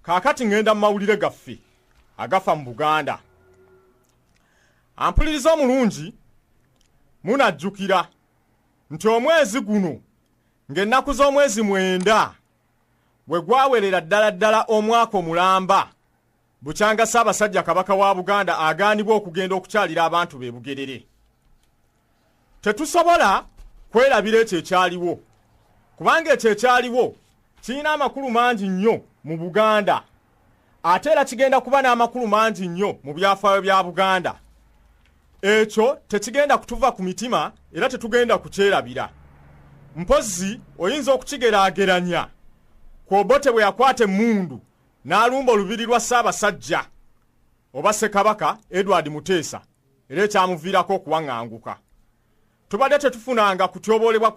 kaakati ŋŋenda mu mawulire gaffe agafa mu buganda ampuliriza omulungi munajjukira nti omwezi guno ng'ennaku z'omwezi mwenda we gwawerera ddala ddala omwaka omulamba Bukyanga Ssaabasajja Kabaka wa Buganda agaanibwa okugenda okukyalira abantu be Bugerere. Tetusobola kwerabira ekyo ekyaliwo kubanga ekyo ekyaliwo kirina amakulu mangi nnyo mu Buganda ate era kigenda kuba n'amakulu mangi nnyo mu byafaayo bya Buganda. Ekyo tekigenda kutuva ku mitima era tetugenda kukyerabira. Mpozzi oyinza okukigeraageranya ku Obote bwe yakwata emmundu n'alumba olubiri lwa Ssaabasajja oba Ssekabaka Edward Muteesa era ekyamuviirako okuwaŋŋanguka. Tubadde tetufunanga kutyoboolebwa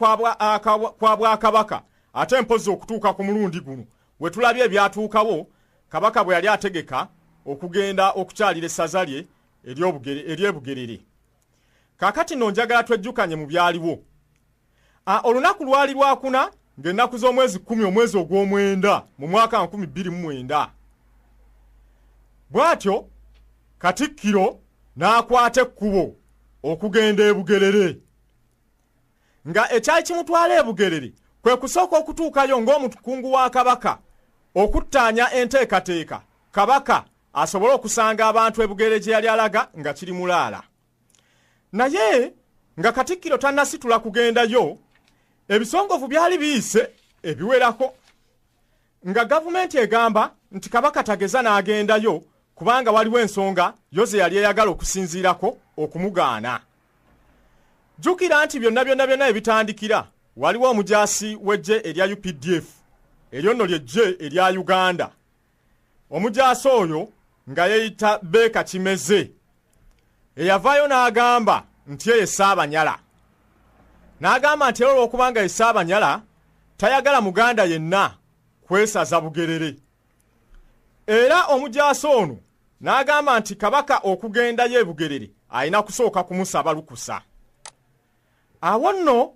kwa Bwakabaka ate mpozzi okutuuka ku mulundi guno we tulabye ebyatuukawo Kabaka bwe yali ategeka okugenda okukyalira essaza lye ery'e Bugerere. Kaakati nno njagala twejjukanye mu byaliwo. Ah, olunaku lwali lwakuna ng'ennaku z'omwezi kkumi omwezi ogw'omwenda mu mwaka nkumi bbiri mu mwenda bw'atyo katikkiro n'akwata ekkubo okugenda e bugerere nga ekyali kimutwala e bugerere kwe kusooka okutuukayo ng'omukungu wa kabaka okuttaanya enteekateeka kabaka asobole okusanga abantu e bugerere gye yali alaga nga kiri mulaala naye nga katikkiro tannasitula kugendayo ebisongovu byali biyise ebiwerako nga gavumenti egamba nti kabaka tageza n'agendayo kubanga waliwo ensonga yo ze yali eyagala okusinziirako okumugaana jjukira nti byonna byonna byonna ebitandikira waliwo omujaasi w'eggye erya updf eryo nno ly'eggye erya uganda Omujaasi oyo nga yeyita Beeka Kimeze eyavaayo n'agamba nti eye Ssaabanyala n'agamba nti era olw'okubanga ye Ssaabanyala tayagala muganda yenna kwesaza Bugerere era omujaasi ono n'agamba nti Kabaka okugendayo e Bugerere alina kusooka kumusaba lukusa. Awo nno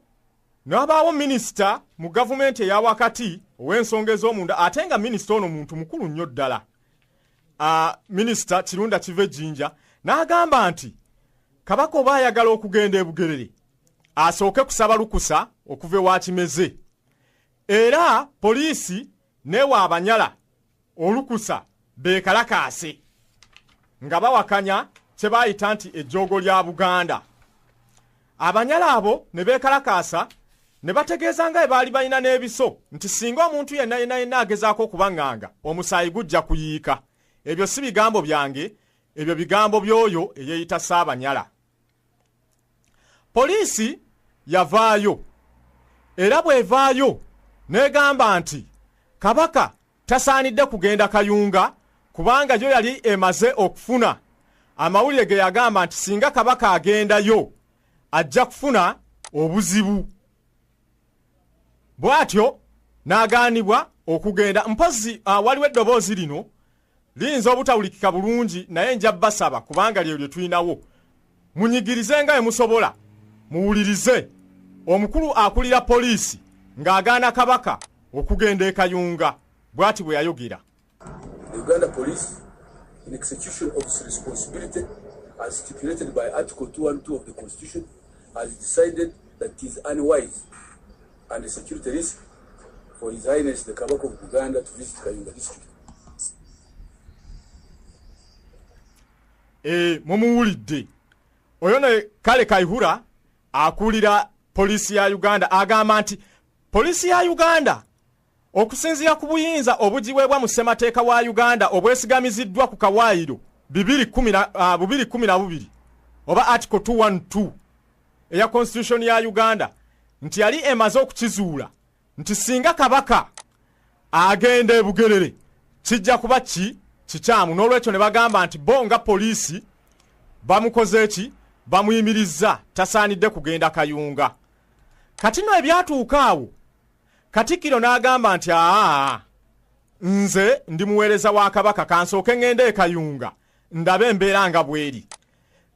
n'abaawo minisita mu gavumenti eya wakati ow'ensonga ez'omunda ate nga minisita ono muntu mukulu nnyo ddala ah, minisita kirunda kiva ejjinja n'agamba nti kabaka oba ayagala okugenda e bugerere asooke kusaba lukusa okuva ewa kimeze era poliisi newa abanyala olukusa beekalakaase nga bawakanya kye baayita nti ejjoogo lya buganda abanyala abo ne beekalakaasa ne bategeeza nga ebaali balina n'ebiso nti singa omuntu yenna yenna yenna agezaako okubaŋŋanga omusaayi gujja kuyiika ebyo si bigambo byange ebyo bigambo by'oyo eyeeyita saabanyala poliisi yavaayo era bw'evaayo n'egamba nti kabaka tasaanidde kugenda kayunga kubanga yo yali emaze okufuna amawulire ge yagamba nti singa kabaka agendayo ajja kufuna obuzibu bw'atyo n'agaanibwa okugenda mpozzi ah, waliwo eddoboozi lino Liyinza obutawulikika bulungi naye nja basaba kubanga lyeyo lye tulinawo. Munyigirize nga emusobola muwulirize omukulu akulira poliisi ng'agaana Kabaka okugenda e Kayunga bw'ati bwe yayogera. Uganda Police in execution of its responsibility as stipulated by Article 212 of the Constitution has decided that it is unwise and a security risk for His Highness the Kabaka of Buganda to visit Kayunga district. Eh, mumuwulidde oyo ne kale kaihura akulira poliisi ya uganda agamba nti poliisi ya uganda Okusinziira ku buyinza obugiweebwa mu Ssemateeka wa Uganda obwesigamiziddwa ku kawaayiro ah, bubiri kumi na bubiri oba Article 212 eya Constitution ya Uganda nti yali emaze okukizuula nti singa kabaka agenda e Bugerere kijja kuba ki kikyamu n'olwekyo ne bagamba nti bo nga poliisi bamukoze ki bamuyimirizza tasaanidde kugenda Kayunga kati no ebyatuuka awo Katikkiro n'agamba nti aa nze ndi muweereza wa Kabaka kansooke ng'ende e Kayunga ndabe embeera nga bweri.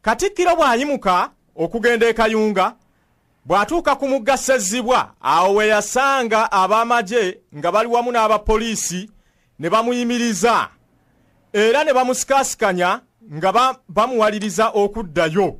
Katikkiro bw'ayimuka okugenda e Kayunga bw'atuuka ku mugga Ssezzibwa awo we yasanga ab'amagye nga bali wamu n'abapoliisi ne bamuyimiriza era ne bamusikaasikanya nga bamuwaliriza okuddayo.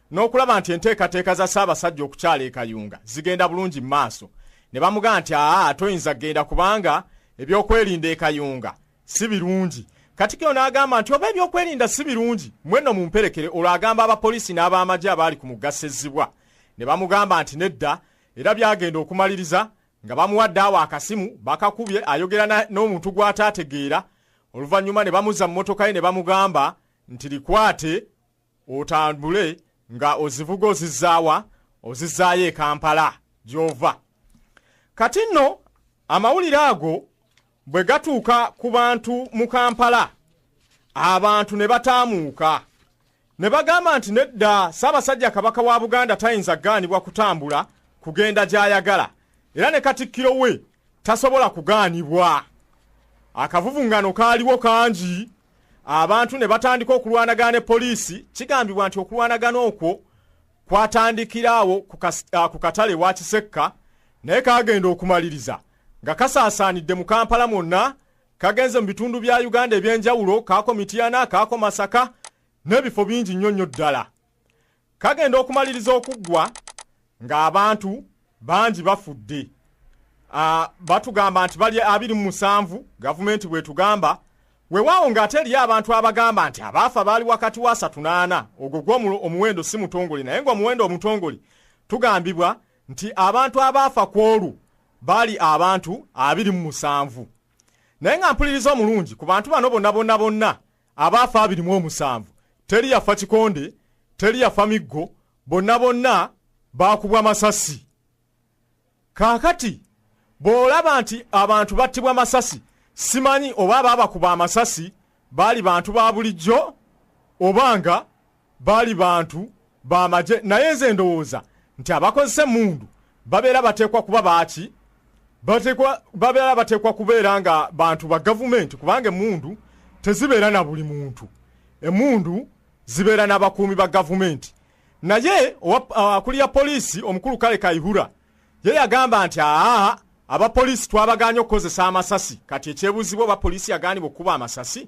n'okulaba nti enteekateeka za Ssaabasajja okukyala e Kayunga zigenda bulungi mu maaso ne bamugamba nti aa toyinza kugenda kubanga ebyokwerinda e Kayunga si birungi Katikkiro n'agamba nti oba ebyokwerinda si birungi mwenno mumperekere olwo agamba abapoliisi n'ab'amagye abaali ku mugga Ssezzibwa ne bamugamba nti nedda era byagenda okumaliriza nga bamuwadde awo akasimu bakakubye ayogera n'omuntu gw'ataategeera oluvannyuma ne bamuzza mu mmotoka ye ne bamugamba nti likwate otambule nga ozivuga ozizaawa ozizaayo e kampala gyova kati nno amawulire ago bwe gatuuka ku bantu mu kampala abantu ne bataamuuka ne bagamba nti nedda ssaabasajja kabaka wa buganda tayinza kugaanibwa kutambula kugenda gy'ayagala era ne katikkiro we tasobola kugaanibwa akavuvungano kaaliwo kangi abantu ne batandika okulwanagana ne poliisi kigambibwa nti okulwanagana okwo kwatandikiraawo ku ah, katale wa kisekka naye kagenda okumaliriza nga kasaasaanidde mu kampala mwonna kagenze mu bitundu bya uganda eby'enjawulo kaako mityana kaako masaka n'ebifo bingi nnyo nnyo ddala kagenda okumaliriza okuggwa ng'abantu bangi bafudde ah, batugamba nti bali abiri mu musanvu gavumenti bwetugamba wewaawo ng'ate eriyo abantu abagamba nti abaafa baali wakati wa asatu n'ana ogwo gwo omuwendo si mutongole naye ngaomuwendo omutongole tugambibwa nti abantu abaafa ku olwo baali abantu abiri mu musanvu naye nga mpuliriza omulungi ku bantu bano bonna bonna bonna abaafa abiri mu omusanvu teri yafa kikonde teri yafa miggo bonna bonna baakubwa masasi kaakati bw'olaba nti abantu battibwa masasi simanyi oba abaabakuba amasasi baali bantu ba bulijjo oba nga Baali bantu ba magye naye nze ndowooza nti abakozesa emmundu babeera bateekwa kuba baaki babeera bateekwa kubeera nga bantu ba gavumenti kubanga emmundu tezibeera na buli muntu emmundu zibeera n'abakuumi ba gavumenti naye akulira poliisi omukulu kale kaihura ye yagamba nti aa abapoliisi twabaganye okukozesa amasasi kati ekyebuuzibwa oba poliisi yagaanibwa okukuba amasasi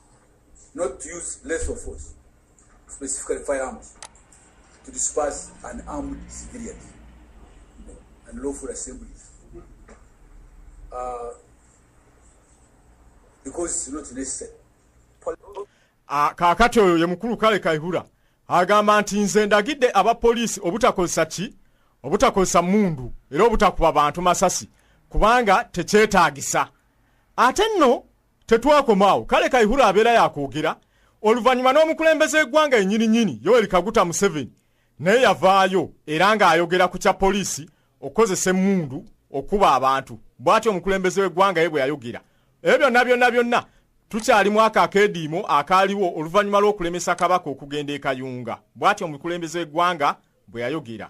not to use lethal force, specifically firearms, to disperse an armed civilian and lawful assemblies. Uh, because it's not necessary. Ah, kakati oyo ye mukulu kale kaihura agamba nti nze ndagidde abapoliisi obutakozesa ki obutakozesa mundu era obutakuba bantu masasi kubanga tekyetaagisa ate nno Tetwakoma awo, kale Kaihura abeera yakwogera oluvannyuma n'omukulembeze w'eggwanga enyini nyini Yoweri Kaguta Museveni naye yavaayo era ng'ayogera ku kya poliisi okukozesa emmundu okukuba abantu bw'atyo omukulembeze w'eggwanga ye bwe yayogera ebyo byonna byonna byonna tukyali mwaka akeediimo akaaliwo oluvannyuma lw'okulemesa kabaka okugenda e Kayunga bw'atyo omukulembeze w'eggwanga bwe yayogera.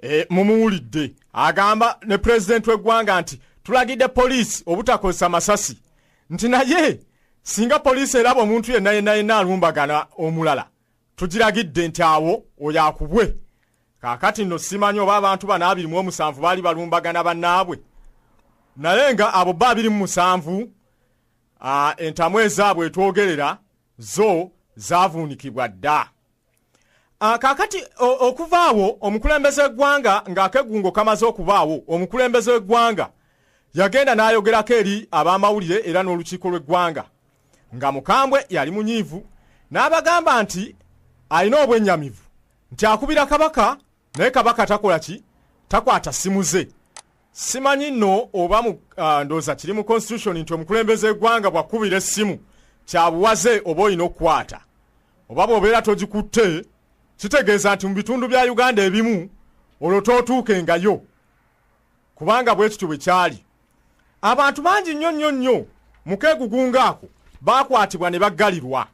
Eh, mumuwulidde agamba ne pulezidenti w'eggwanga nti tulagidde poliisi obutakozesa masasi nti naye singa poliisi eraba omuntu yenna yenna yenna alumbagana omulala tugiragidde nti awo oyo akubwe kaakati nno simanyi oba abantu bano abiri mu omusanvu baali balumbagana bannaabwe naye nga abo ba abiri mu musanvu entamu ezaabwe etwogerera zo zaavuunikibwa dda ah, kaakati okuvaawo omukulembeze w'eggwanga ng'akegungo kamaze okubaawo omukulembeze w'eggwanga yagenda n'ayogerako eri ab'amawulire era n'olukiiko lw'eggwanga nga mukambwe yali munyiivu n'abagamba nti alina obwennyamivu nti akubira kabaka naye kabaka takola ki takwata simu ze simanyi no oba mu uh, ndoza kiri mu constitution nti omukulembeze egwanga bwakubira essimu kyabuwaze oba olina okukwata oba bwobeera togikutte kitegeeza nti mu bitundu bya uganda ebimu olwo tootuuke ngayo kubanga bwe kityo bwe kyali abantu bangi nnyo nnyo nnyo mu keegugunga ako baakwatibwa ne baggalirwa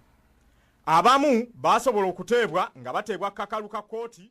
abamu baasobola okuteebwa nga bateebwa kakalu ka kkooti